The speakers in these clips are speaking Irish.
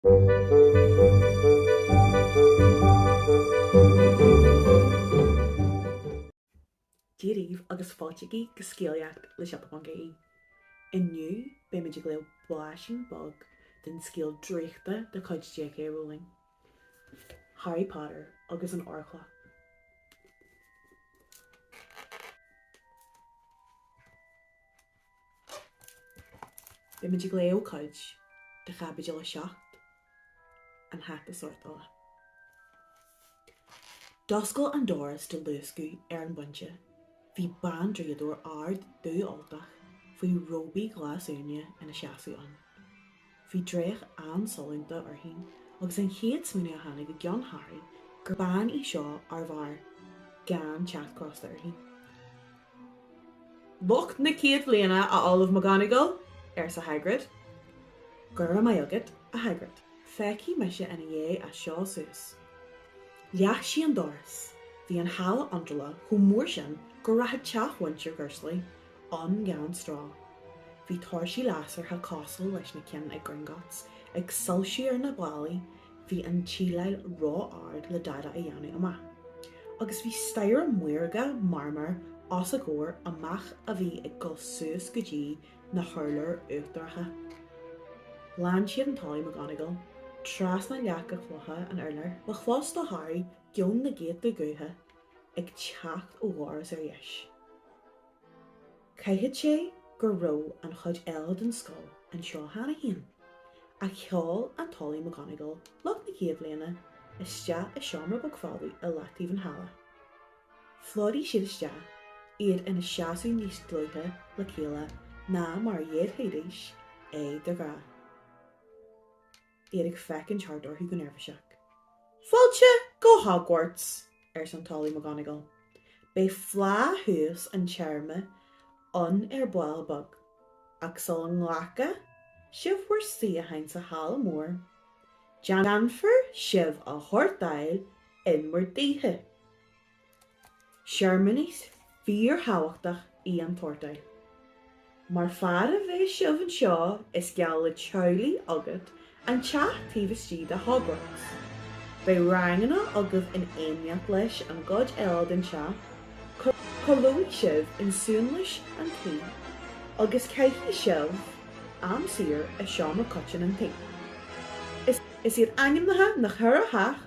Dia dhaoibh agus fáiltígí go scéalaíocht le Siopa Ponc IE. Inniu beimid ag léamh blaisín beag den scéal draíochta de chuid JK Rowling, Harry Potter agus an Órchloch. Beimid ag léamh cuid de Chaibidil 7, An Hata Sórtála. D'oscail an doras de luascadh ar an bpointe. Bhí bandraíodóir ard dúfholtach faoi róbaí glasuaine ina seasamh ann. Bhí dreach an-sollúnta uirthi agus an chéad smaoineamh a tháinig i gceann Harry gur bean í seo arbh fhearr gan teacht crosta uirthi. 'Lucht na chéad bhliana, a Ollamh McGonagall! arsa Hagrid. 'Gura maith agat, a Hagrid. Féachfaidh mise ina dhiaidh as seo suas. Leath sí an doras. Bhí an halla iontrála chomh mór sin go rachadh teach mhuintir Dhursley ann gan stró. Bhí tóirsí lasracha cosúil leis na cinn ag Gringotts ag soilsiú ar na ballaí, bhí an tsíleáil ró-ard le dada a dhéanamh amach, agus bhí staighre maorga marmair os a gcomhair amach a bhí ag dul suas go dtí na hurláir uachtaracha. Lean siad an tOllamh McGonagall trasna leaca cloiche an urláir. Ba chlós do Harry geoin na gcéadta guth ag teacht ó dhoras ar dheis. Caithfidh sé go raibh an chuid eile den scoil anseo cheana féin, ach sheol an tOllamh McGonagall lucht na chéad bhliana isteach i seomra beag folamh i leataobh an halla. Phlódaigh siad isteach, iad ina seasamh níos dlúithe le chéile ná mar a dhéanfaidís é de ghnáth. iad ag féachaint thart orthu go neirbhíseach. 'Fáilte go Hogwarts! arsa an tOllamh McGonagall. 'Beidh fleá thús an téarma ann ar ball beag, ach sula nglaca sibh bhur suíocháin sa Halla Mór, déanfar sibh a shórtáil in bhur dtithe! Searmanas fíorthábhachtach í an tsórtáil. Mar fad a bheidh sibh anseo is geall le teaghlaigh agat an teach taobh istigh de Hogwarts. Beidh ranganna agaibh in éineacht leis an gcuid eile den teach, codlóidh sibh in suanlios an tí agus caithfidh sibh am saor i seomra coiteann an tí. Is iad ainmneacha na cheithre theach.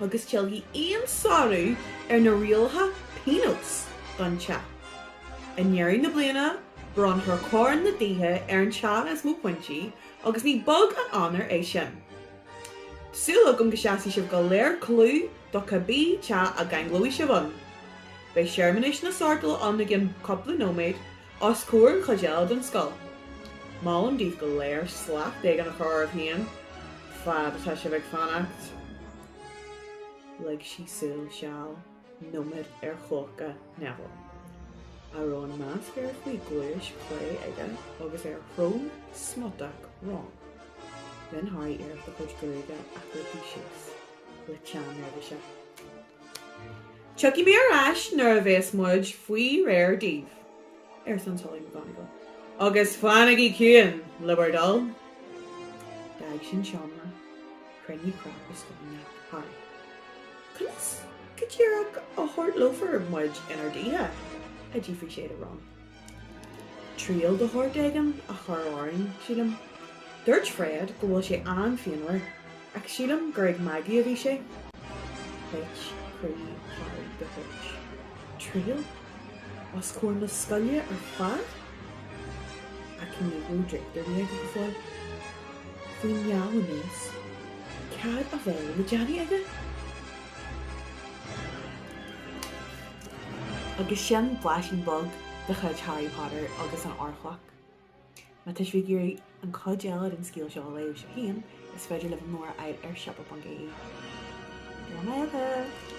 agus tuillfidh aon sárú ar na rialacha pionós don teach. I ndeireadh na bliana, bronnfar Corn na dTithe ar an teach is mó pointí agus ní beag an onóir é sin. Tá súil agam go seasfaidh sibh go léir clú do cibé teach a gceanglóidh sibh ann. Beidh Searmanas na Sórtála ann i gceann cúpla nóiméad os comhair an chuid eile den scoil. Molaim daoibh go léir slacht éigin a chur oraibh féin fad atá sibh ag fanacht. Lig sí súil seal nóiméid ar chlóca Neville, a raibh an nasc air faoin gcluais chlé aige agus ar shrón smutach Ron. Rinne Harry iarracht a chuid gruaige a shroicheadh síos le teann neirbhíse. Tiocfaidh mé ar ais nuair a bheas muid faoi réir daoibh, arsa an tOllamh McGonagall, agus fanaigí ciúin, le bhur dtoil. D'fhág sí an seomra. Chruinnigh cnap i scornach Harry. Conas go díreach a shórtálfar muid inár dtithe? a d'fhiafraigh sé de Ron. triail de shórt éigin a chur orainn, sílim. Dúirt Fred go bhfuil sé an-phianmhar, ach sílim gur ag magadh a bhí sé. Thit croí Harry de thuairt. Triail? Os comhair na scoile ar fad? Ach ní raibh draíocht ar bith aige go fóill. Faoin meall aníos. Cad a bheadh le déanamh aige? Agus sin blaisín beag de chuid Harry Potter agus an Órchloch. Má tá sibh ag iarraidh an chuid eile den scéal seo a léamh sibh féin, is féidir libh an leabhar a fháil ar siopa.ie. Go raibh maith agat!